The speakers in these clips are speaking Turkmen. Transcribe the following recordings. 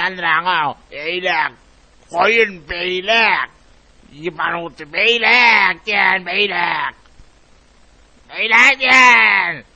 Aldraňa eýläk, goýun beýläk, ýybanuty beýläk, diýen beýläk. Beýläk diýen.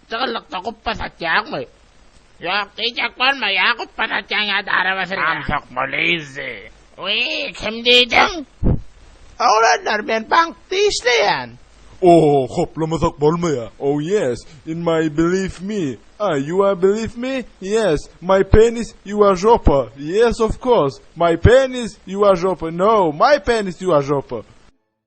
Jygyllykda gupba satýaňmy? Ýok, diýjek bolma, ýa gupba satýaň, ýa-da araba sürýäň. Samsyk Mulizi. Wiý, kim diýdiň? Oglanlar, men bankda işleýän. Oo, hoplamasak bolmaýa. Oh yes, in my believe me, ah, you are believe me, yes, my penis, you are žopa, yes, of course, my penis, you are žopa, no, my penis, you are žopa.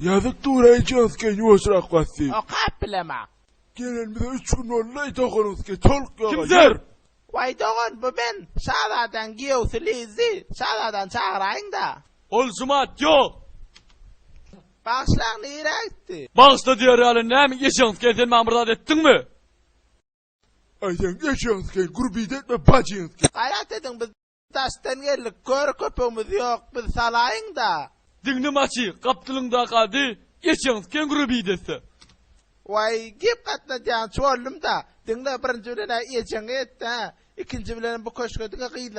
Ýazyk duraýyn şyns geýin ýuwaşrak bas diýip. Okap bilemok. Gelen bize üç gün boldy doganyňyz geýdi toluk ýoga ýer. Kimdir. Waý dogan bu men şazadaň giýewsi Lizzi şazadany çagyraýyňda. Ol jumat ýok. Bagyşlaň nirä gitdi. Bagyşla diýer ýaly näme eşegiňiz geýin sen maňa bir zat etdiňmi. Aýdaň eşegiňiz geýin gurbida etme bajyňyz geýin. Gaýrat ediň biz. Daşdan geldik, köri köpügimiz ýok, biz salaýyň-da! Diňle maçy, gapdalyndaky ady geçeňs keňre bir desse. Waý, gep gatnadýançy boldum-da. Diňle, birinji bilen-ä ejeňe et-dä, ikinji bilenem bu köşge diňe gyzlara.